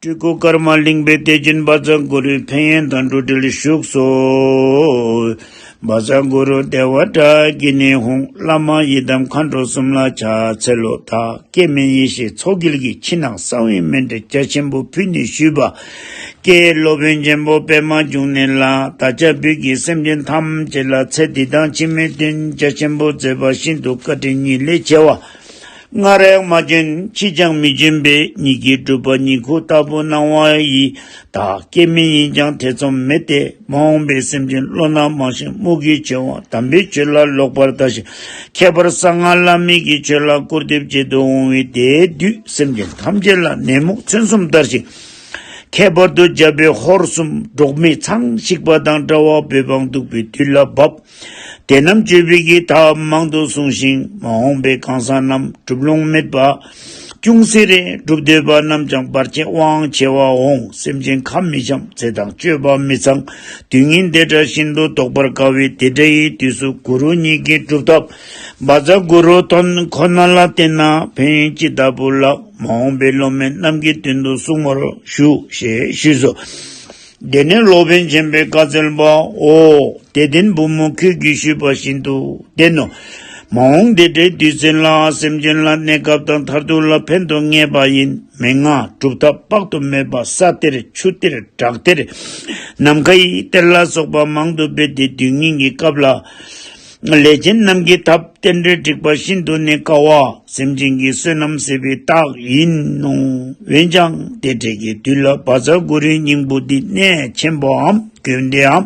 སྤྲུལ་སྐུ་ཀརྨ་གླིང་པའི་གཏེར་སྦྱིན་སྦ་ཛཱ་གུ་རུའི་ཕན་ཡོན་དང་འགྲོ་དྲིལ་བཞུགས་སོ། སྦ་ཛཱ་གུ་རུ་བདེ་བ་དྲ་བགེགས་ནི་ཧུང་བླ་མ་ཡི་དམ་མཁའ་འགྲོ་གསུམ་ལ་ཕྱག་འཚལ་ལོ། བདག་སྐྱེ་མེད་ཡེ་ཤེས་མཚོ་དཀྱིལ་གྱི་ཕྱི་ནང་གསང་བའི་སྨན་དྲི་རྒྱ་ཆེན་པོ་ཕུལ་ནས་ཞུས་པ། ཀྱེ་སློབ་དཔོན་ཆེན་པོ་པད་མ་འབྱུང་གནས་ལགས་ད་ཆ་བོད་ཀྱི་སེམས་ཅན་ཐམས་ཅད་ལ་ཚེ་འདི་དང་ཕྱི་མའི་དོན་རྒྱ་ཆེན་པོ་མཛད་པ་ཤིན་ཏུ་བཀའ་དྲིན་ཉིད་ལས་ཆེ་བ། སྔར་རེག་མ་ཅན་ཕྱིས་ཀྱང་མི་སྦྱིན་པས་ཉིད་ཀྱིས་བསྒྲུབས་པ་ཉིད་ཁུ་ལྟ་བུ་སྣང་བ་ཡི་དག་སྐྱེ་མེད་ཡིན་ཀྱང་ཐེ་ཚོམ་མེད་དེ་མ་འོངས་པའི་སེམས་ཅན་བློ་སྣ་མང་ཞིང་རྨུ་གུའི་ཆེ་བ་དམ་པའི་ཆོས་ལ་ལོག་པར་ལྟ་ཞིང་ཁྱད་པར་གསང་སྔགས་བླ་མེད་ཀྱི་ཆོས་ལ་སྐུར་འདེབས་བྱེད་དུ་འོང་བས་དེའི་དུས་སེམས་ཅན་ཐམས་ཅད་ལ་ནད་མུག་མཚོན་གསུམ་བསྟར་ཞིང། ཁྱད་པར་དུ་རྒྱལ་པོའི་ཧོར་གསུམ་འབྲོག་མི་ཚང་བཤིག་པ་དང་འདྲ་བ་བོད་འབངས་སྡུག་པའི་དུས་ལ་བབ། དེ་རྣམས་སྤྱོད་པའི་གེགས་མཐའ་མང་དུ་བསྲུང་ཞིང་མ་འོངས་པའི་གང་ཟག་རྣམས་གྲུབ་ལོང་མེད་པ། ཅུང་ཟད་རེ་སྒྲུབ་འདོད་པ་རྣམས་ཀྱང་བར་ཆད་དབང་ཆེ་བ་འོང་སེམས་ཅན་ཁ་མི་འཆམ་ཚེ་དང་སྤྱོད་པ་མི་ཚང་དུས་ངན་འདས་གྲགས་ཤིན་ཏུ་དོག་པར་དཀའ་བས་དེ་འདྲ་ཡི་དུས་སུ་གུ་རུ་ཉིད་ཀྱི་སྒྲུབ་ཐབས་སྦ་བཟའ་གུ་རུ་དོན་ཁོ་ན་ལ་བརྟེན་ན་ཕན་ཅི་ལྟ་བུ་ལགས་མ་འོངས་པའི་སློབ་མའི་རྣམས་ཀྱི་དོན་དུ་གསུང་བར་ཞུ་ཞེས་ཞུས་སོ། དེ་ནས་སློབ་དཔོན་ཆེན་པོས་བཀའ་སྩལ་པ། ཨོ། དད་ལྡན་བུ་མོ་ཁྱོད་ཀྱིས་ཞུས་པ་བཞིན་དུ་བདེན་ནོ། མ་འོངས་འདི་འདྲའི་དུས་ཚོད་ལའང་སེམས་ཅན་ལ་གནས་སྐབས་དང་མཐར་ཐུག་ལ་ཕན་དུ་ངེས་པ་ཡིན་མི་མངའ་གྲུབ་མཐའ་དཔག་ཏུ་མེད་པ་ས་གཏེར་ཆུ་གཏེར་བྲག་གཏེར། ནམ་མཁའི་གཏེར་ལ་སོགས་པ་མང་དུ་སྤེལ་ཏེ་དུས་ངན་གྱི་སྐབས་ལ། ལས་ཅན་རྣམས་ཀྱི་ཐབས་རྟེན་འབྲེལ་འགྲིག་པ་ཤིན་ཏུ་ནས་དཀའ་བ་སེམས་ཅན་གྱི་བསོད་ནམས་ཟད་པའི་རྟགས་ཡིན་ནོ། འོན་ཀྱང་དེ་འབྲེལ་གྱི་དུས་ལ་བ་ཚྭ་གུ་རུའི་སྙིང་པོ་འདི་གནད་ཆེན་པོའམ་རྒྱུན་དེའམ།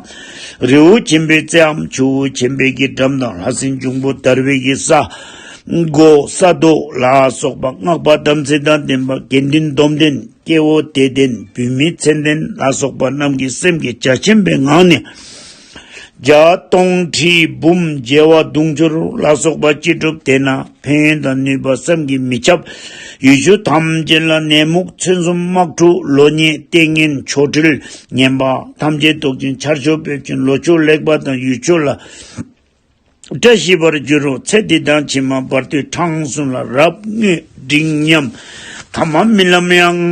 རི་བོ་ཆེན་པོའི་རྩེའམ་ཆུ་བོ་ཆེན་པོའི་རྒྱུད་འགྲམ་དང་ལྷ་སྲིན་འབྱུང་པོ་དར་བའི་གི་ས། སྒོ་ས་རྡོ་ལ་སོགས་པ་སྔགས་པ་དམ་ཚིག་དང་ལྡན་པ་དགེ་འདུན་སྡོམ་ལྡན་སྐྱེ་བོ་དད་ལྡན་བུད་མེད་མཚན་ལྡན་ལ་སོགས་པ་རྣམས་ཀྱི་སེམས་ཀྱི་རྒྱ་ཆེན་པོའི་ངང་ནས། བརྒྱ་སྟོང་ཁྲི་འབུམ་རྒྱལ་བ་དུང་ཕྱུར་ལ་སོགས་པ་སྐྱེས་གྲུབ་དེ་ན་ཕན་དང་ནུས་པ་བསམ་གྱིས་མི་ཁྱབ། ཡུལ་ཆོས་ཐམས་ཅད་ལ་ནད་མུག་མཚོན་གསུམ་དམག་འཁྲུག་ལོ་ཉེས་ལྟས་ངན་ཆོ་འཕྲུལ་ངན་པ་ཐམས་ཅད་བཟློག་ཅིང་ཆར་ཆུ་འབེབ་ཅིང་ལོ་ཆུ་ལེགས་པ་དང་ཡུལ་ཆོས་ལ་བཀྲ་ཤིས་པར་འགྱུར་རོ་ཚེ་འདི་དང་ཕྱི་མ་བར་དུས་གྲངས་གསུམ་ལ་རབ་བསྔོས་འབྲིང་མཉམ། ཐ་མ་རྨི་ལམ་ཡང།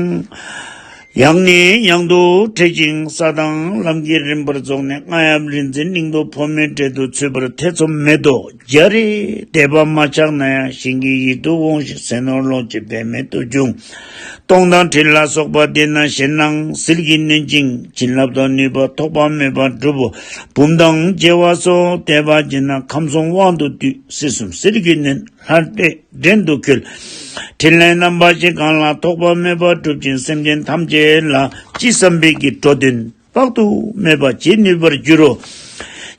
ཡང་ནས་ཡང་དུ་འཕྲད་ཅིང་ས་དང་ལམ་གྱི་རིམ་པར་རྫོགས་ནས་རྔ་ཡབ་རིག་འཛིན་གླིང་དུ་ཕོ་མོའི་གྲལ་དུ་ཚུད་པར་ཐེ་ཚོམ་མེད་དོ་རྒྱ་རི་དད་པ་མ་ཆགས་ན་ཡང་གཞན་གྱི་ཡིད་དུ་འོང་ཞིང་ཟས་ནོར་ལོངས་སྤྱོད་འབད་མེད་དུ་འབྱུང། སྟོང་དང་དྲི་ལ་སོགས་པ་དེ་རྣམས་ཞེན་སྣང་ཟིལ་གྱིས་ནོན་ཅིང་བྱིན་བརླབ་དང་ནུས་པ་ཐོགས་པ་མེད་པར་བསྒྲུབ་བོ། བུམ་ཐང་བརྗེ་བ་སོགས་བཟླས་པ་བགྱིས་ན་ཁམས་གསུམ་དབང་དུ་བསྡུས་སྲིད་གསུམ་ཟིལ་གྱིས་ནོན་ལྷར་བསྒྲེང་དུ་འཁྱུད། ཕྲིན་ལས་རྣམ་པ་བཞི་གང་ལ་ཐོགས་པ་མེད་པར་བསྒྲུབ་ཅིང་སེམས་ཅན་ཐམས་ཅད་ལ་ཅི་བསམ་འཕེལ་གྱི་འགྲོ་དོན། དཔག་ཏུ་མེད་པ་བྱེད་ནུས་པར་འགྱུར་རོ།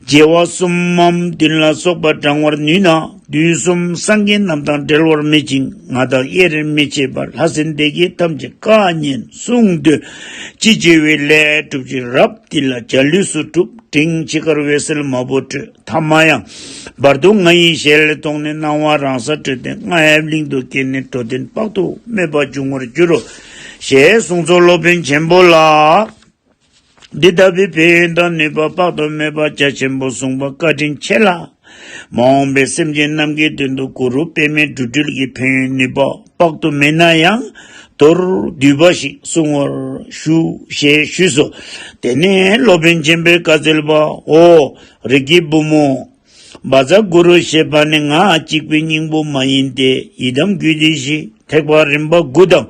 རྒྱལ་བ་གསུམ་མམ་བདུན་ལ་སོགས་པ་བགྲང་བར་ནུས་ན་དུས་གསུམ་སངས་རྒྱས་རྣམས་དང་འབྲལ་བར་མེད་ཅིང་ང་དང་དབྱེར་རེ་མི་བྱེད་པར་ལྷ་སྲིན་སྡེ་བརྒྱད་ཐམས་ཅད་བཀའ་ཉན་གསུང་དུ་ཅི་བགྱི་བའི་ལས་གྲུབ་ཅིང་རབ་འདི་ལ་བྱ་ལུས་སུ་གྲུབ་འབྲིང་ཇི་དགར་འོད་གསལ་མ་བུ་སྤྲོས་ཐ་མ་ཡང་བར་དུ་ང་ཡི་ཞལ་མཐོང་ནས་སྣང་བ་རང་སར་སྤྲོས་ཏེ་རྔ་ཡབ་གླིང་དུ་སྐྱེས་ནས་འགྲོ་དོན་དཔག་ཏུ་མེད་པ་འབྱུང་བར་འགྱུར་རོ། ཞེས་གསུངས་སོ་སློབ་དཔོན་ཆེན་པོ་ལ། འདི་ལྟ་བུའི་ཕན་ཡོན་དང་ནུས་པ་དཔག་ཏུ་མེད་པ་རྒྱ་ཆེན་པོ་གསུངས་པ་བཀའ་དྲིན་ཆེ་ལ། མ་འོངས་པའི་སེམས་ཅན་རྣམས་ཀྱི་དོན་དུ་གུ་རུ་པད་མའི་འབྲུ་སྤྲུལ་གྱི་ཕན་ཡོན་ནུས་པ་དཔག་ཏུ་མེད་ན་ཡང་མདོར་བསྡུས་པ་ཞིག་གསུང་བར་ཞུ་ཞེས་ཞུས་སོ། དེ་ནས་སློབ་དཔོན་ཆེན་པོས་བཀའ་སྩལ་པ། ཧོ། རིགས་ཀྱི་བུ་མོ། བ་ཛྭ་གུ་རུ་ཞེས་པ་ནི་ངག་གཅིག་པའི་སྙིང་པོ་མ་ཡིན་ཏེ་ཡི་དམ་རྒྱུད་སྡེ་བཞི་ཐེག་པ་རིམ་པ་དགུ་དང་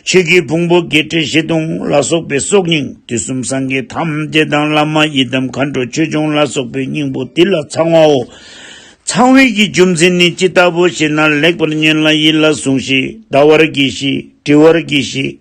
ཆོས་ཀྱི་ཕུང་པོ་བརྒྱད་ཁྲི་བཞི་སྟོང་ལ་སོགས་པའི་སྲོག་སྙིང་དུས་གསུམ་སངས་རྒྱས་ཐམས་ཅད་དང་བླ་མ་ཡི་དམ་མཁའ་འགྲོ་ཆོས་སྐྱོང་ལ་སོགས་པའི་སྙིང་པོ་དེ་ལ་ཚང་བའོ། ཚང་བའི་གྱི་རྒྱུ་མཚན་ནི་ཅི་ལྟ་བུ་ཞེ་ན་ལེགས་པར་ཉོན་ལ་ཡིད་ལ་ཟུང་ཞིག་བཟླ་བར་གྱིས་ཤིག་བྲི་བར་གྱིས་ཤིག།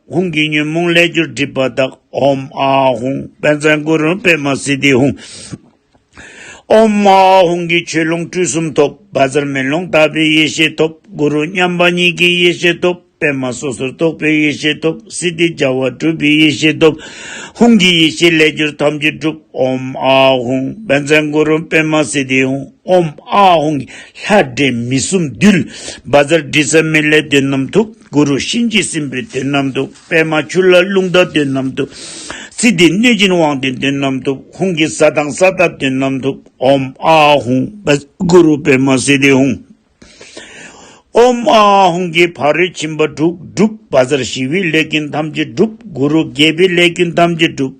ཧཱུྃ་གི་ཉོན་མོངས་ལས་གྱུར་སྒྲིབ་པ་དག། ཨོམ་ཨཱ་ཧཱུྃ་དཔལ་བཟང་གུ་རུ་པད་མ་སི་ཏི་ཧཱུྃ། ཨོམ་ཨཱ་ཧཱུྃ་གི་ཆོས་ལོངས་སྤྲུལ་གསུམ་ཐོབ། བ་ཟར་མེ་ལོང་ལྟ་བུའི་ཡེ་ཤེས་ཐོབ། གུ་རུ་མཉམ་པ་ཉིད་ཀྱི་ཡེ་ཤེས་ཐོབ། པད་མ་སོ་སོར་རྟོག་པའི་ཡེ་ཤེས་ཐོབ། སི་ཏི་རྒྱལ་བ་སྤྲུལ་པའི་ཡེ་ཤེས་ཐོབ། ཧཱུྃ་གི་ཡེ་ཤེས་ལས་གྱུར་ཐམས་ཅད་འགྲུབ། ཨོམ་ཨཱ་ཧཱུྃ་དཔལ་བཟང་གུ་རུ་པད་མ་སི་ཏི་ཧཱུྃ། ཨོམ་ཨཱ་ཧཱུྃ་ལྷ་འདྲེ་མི་གསུམ་འདུལ། བ་ཟར་དྲི་ཟ་མེ་ལས་དོན་རྣམས་ཐུབ། གུ་རུ་གཤིན་རྗེ་སྲིན་པོའི་དོན་རྣམས་དུ་པདྨ་ཆུ་ལྷ་རླུང་རྟ་དོན་རྣམས་དུ། ཚེ་འདི་གནོད་སྦྱིན་དབང་ལྡན་དོན་རྣམས་དུ་ཧཱུྃ་གི་ས་དང་ས་བདག་དོན་རྣམས་དུ་ཨོམ་ཨཱ་ཧཱུྃ་པདྨ་གུ་རུ་པདྨ་སྲིད་ལྡན་ཧཱུྃ། ཨོམ་ཨཱ་ཧཱུྃ་གི་ཕ་རོལ་ཕྱིན་པ་དྲུག་བསྒྲུབ། བ་ཟར་ཞི་བའི་ལས་ཀུན་ཐམས་ཅད་བསྒྲུབ། གུ་རུ་དགྱེས་པའི་ལས་ཀུན་ཐམས་ཅད་བསྒྲུབ།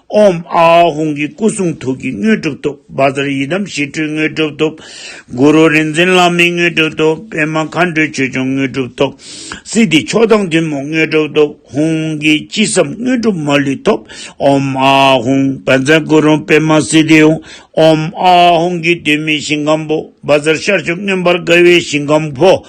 ཨོམ་ཨ་ཨ་ཧོང་གི་སྐུ་གསུང་ཐུགས་ཀྱི་དངོས་གྲུབ་ཐོབ། བ་ཛར་ཡི་དམ་ཞི་ཁྲོའི་དངོས་གྲུབ་ཐོབ། གུ་རུ་རིག་འཛིན་བླ་མའི་དངོས་གྲུབ་ཐོབ། པད་མ་མཁའ་འགྲོའི་ཆོས་སྐྱོང་དངོས་གྲུབ་ཐོབ། སྲིད་འདིའི་མཆོག་དང་མཐུན་མོང་དངོས་གྲུབ་ཐོབ། ཧོང་གི་ཅི་བསམ་དངོས་གྲུབ་མ་ལུས་ཐོབ། ཨོམ་ཨ་ཨ་ཧོང་བ་ཛར་གུ་རུ་པད་མ་སི་ཏི་ཧོང། ཨོམ་ཨ་ཨ་ཧོང་གི་དུས་མེད་ཞིང་ཁམས་པོ། བ་ཛར་ཤར་ཕྱོགས་མངོན་པར་དགའ་བའི་ཞིང་ཁམས་པོ།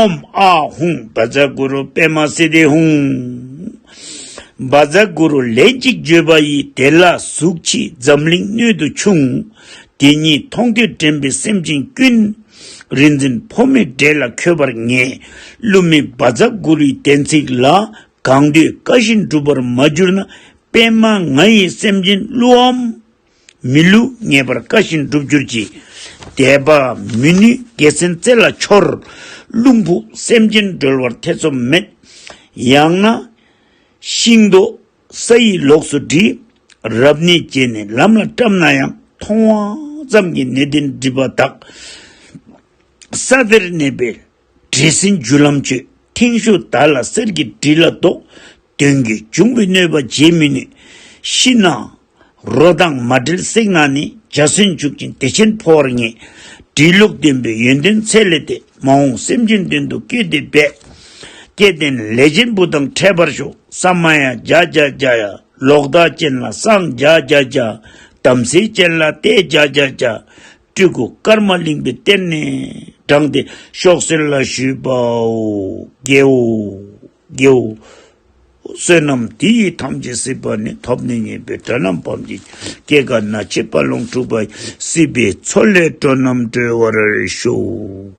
ཨོམ་ཨ་ཧུང་བ་ཛ་གུ་རུ་པད་མ་སི་ཏི་ཧཱུྃ། བ་ཛ་གུ་རུ་ལས་གཅིག་བརྗོད་པ་ཡི་དེ་ལ་གཟུགས་ཕྱིས་འཛམ་གླིང་སྣོད་དུ་ཕྱུང། དེ་ཉིད་མཐོང་ཐོས་དྲན་པའི་སེམས་ཅན་ཀུན། རིག་འཛིན་འཕོ་མེད་འདྲེ་ལ་འཁྱོལ་པར་ངེས། བསླུ་མེད་བ་ཛ་གུ་རུའི་བསྟན་ཚིག་ལ། གང་འདོད་བཀའ་བཞིན་སྒྲུབ་པར་མ་གྱུར་ན། པད་མ་ང་ཡིས་སེམས་ཅན་བསླུའམ། མི་ལུས་ངེས་པར་བཀའ་བཞིན་འགྲུབ་གྱུར་ཅིག། དད་པ་མི་ནུས་དགེ་མཚན་རྩེ་ལ་འཆོར། རླུང་ཕུག་སེམས་ཅན་སྒྲོལ་བར་ཐེ་ཚོམ་མེད། ཡང་ན། ཤིང་རྡོ་ས་ཡི་ལོགས་སུ་བྲི། རབ་གནས་བྱས་ནས་ལམ་ལ་བཀྲམ་ན་ཡང། མཐོང་བ་ཙམ་གྱིས་གནས་བརྟན་སྒྲིབ་པ་དག། ས་དེར་གནས་པའི་བྲེལ་ཟིང་བརྒྱུད་ལམ་གྱི་ཐེངས་ཤོག་དར་ལ་གསེར་གྱི་གྲི་ལ་བདོག། དོན་གྱི་འབྱུང་པོའི་གནོད་པ་བརྗེད་མི་ནུས། ཤི་ན་རོ་དང་མ་བྲལ་བསྲེགས་ན་ནི་འཇའ་ཟུན་འཇུག་ཅིང་བདེ་ཆེན་འཕོ་བར་ངེས། འབྲི་ལུགས་བདེན་པའི་ཡོན་ཏན་ཚད་ལས་འདས། མ་འོངས་སེམས་ཅན་དོན་དུ་བསྐྱོད་དེ་འབད། སྐལ་ལྡན་ལས་ཅན་བུ་དང་འཕྲད་པར་ཤོག། ས་མ་ཡ་རྒྱ་རྒྱ་རྒྱ། ལོག་ལྟ་ཅན་ལ་སངས་རྒྱ་རྒྱ་རྒྱ། དམ་སྲི་ཅན་ལ་གཏད་རྒྱ་རྒྱ་རྒྱ། སྤྲུལ་སྐུ་དཀར་དམར་གླིང་པའི་གཏེར་ནས་དྲངས་ཏེ་ཤོག་སེར་ལ་ཞུས་པའོ། དགེའོ། དགེའོ། བསོད་ནམས་དེ་ཡིས་ཐམས་ཅད་སྲིད་པ་ནས་ཐོབ་ནས་ཉེས་པའི་དགྲ་རྣམས་བམ་གྱི་སྐྱེ་རྒ་ན་འཆི་བར་ལོངས་སྤྲུལ་པ་སྲིད་པའི་མཚོ་ལས་སྤྲོ་རྣམས་སྒྲོལ་བར་ཤོག།